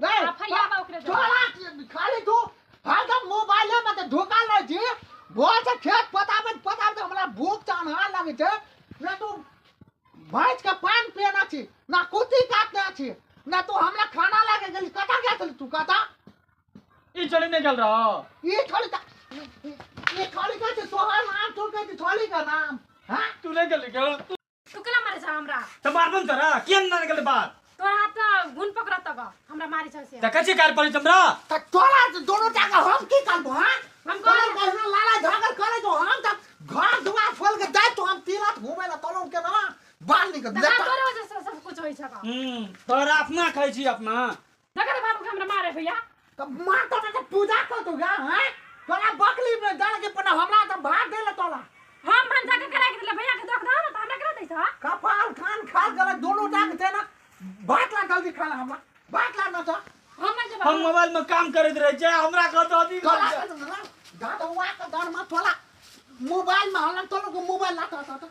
रे आ फरिया बा ओकरे दे। छोड़ा खाली तू हरदम मोबाइले में ते धोखा लै छी घर से खेत पताबैत पताबैत हमरा भूख चान्हा लागै छै ना तू भैंस के पान पियना छी ना कुत्ती काटना छी ना तू हमरा खाना लागे गेली कतऽ गेल छली तू कतऽ ई चली नहीं गल रहा ई छोड़ी का ई छोड़ी का छै तोहर नाम छोड़ के छोड़ी का नाम हाँ तू नहीं गली क्या तू केला मारे छ हमरा त मारबो न तोरा के न निकल बात तोरा हाथ पर गुण पकड़त तक हमरा मारे छ से त कचे कार पड़ी तमरा त तोरा त दोनों टाका हम की करबो हां हम हम कहले कहले कहना लाला झगड़ करे जो हम त घर दुआर खोल के जाय तो हम तिलत घूमे ला तोलो के ना बाल निकल तोरा लेटा तोरे वजह से सब कुछ होई छ का हम्म तोरा अपना खाइ छी अपना नगर बाबू के हमरा मारे भैया त माता त पूजा को तू गा हैं तोला बकली में डाल के पना हमरा त भात देले तोला हम भंजा के करा के दिले भैया के दोख दो ना त हमरा करा दैछ कपाल कान खाल गले दोनों टांग देना भात ला जल्दी खाना हमरा भात ला ना त हम जे हम मोबाइल में काम करत रहे छै हमरा कह दो दी तोला दादा हुआ का दर में तोला मोबाइल में हलन तोला को मोबाइल ला त त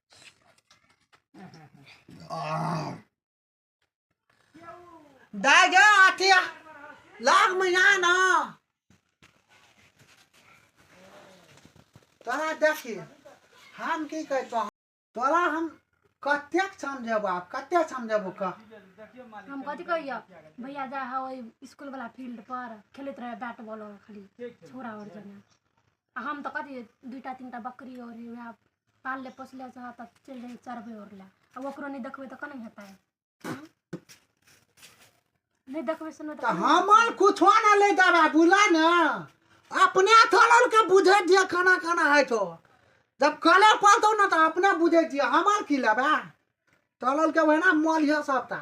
दाइ गे अथी लाख महीना ना तोरा देखी हम की कहै छौ तोरा हम कतेक समझेबो आब कतेक समझेबो कह हम कथी कहियो भैया जा हा ओइ स्कूल वाला फील्ड पर खेलैत रहे बैट बॉल और खाली छोरा और जना आ हम तो कथी दुईटा तीनटा बकरी और वएह पालले पोसले से तऽ चलि जाइ चरबै ओर लए आ ओकरो नहि देखबै तऽ केना हेतै हँ? नहि देखबै सुनबै तऽ तऽ केना हमर कुछो ना ले देबा बुला ने अपने थोड़ा के बुझे दिया खाना खाना है तो जब कले पड़तो ना तो अपने बुझे दिया हमार की लेबा तलल के वहना मल है सबटा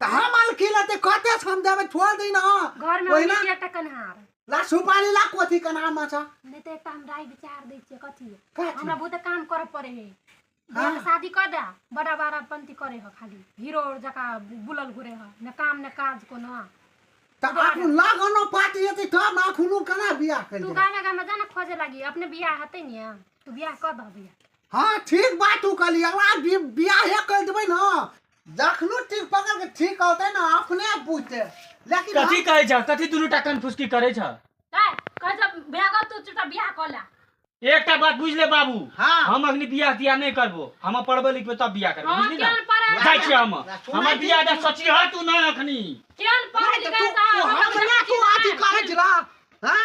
तऽ हम आल की लेतै कते से हम देबै छोड़ दी ना घर में ओहिना हमनी एकटा कन्हार ला सुपारी ला कोथी कना माछा नहीं तो एकटा हम राय विचार दै छियै कथी का चीज? हमरा बहुत काम करे पड़े है हाँ। बियाह के शादी कर दे बड़ा बड़ा पंती करे है खाली हीरो जका बुलल घुरे है न काम न काज को ना तऽ आखुन लागनो पात जेतै तब ने आखुनु कना बियाह करि तू देबै गामे गामे जाना खोजे लगी अपने बियाह हते ने तू बियाह कर दह बियाह हँ ठीक बात तू कहली हमरा बि- बियाहे करि देबै ने जखनो टीक पकड़ के ठीक होते ना अपने आप बुझते लेकिन कथी कहै छ कथी दुनू टा कनफुसकी करै छ काय कह जब भ्याग तू चुटा बियाह कला एकटा बात बुझ ले बाबू हाँ। हम अखनी बियाह तियाह नहि करबो हम पढ़बे लिखबे तब बियाह करबो हम बुझली केहन ना पढ़ाई जाइ छी हम सुनै हमर छी। बियाह दा सोचली ह तू ना अखनी केहन पढ़ नहीं तो लिखा तू- तू हमरा हमरा तू अथी करे छी ना हां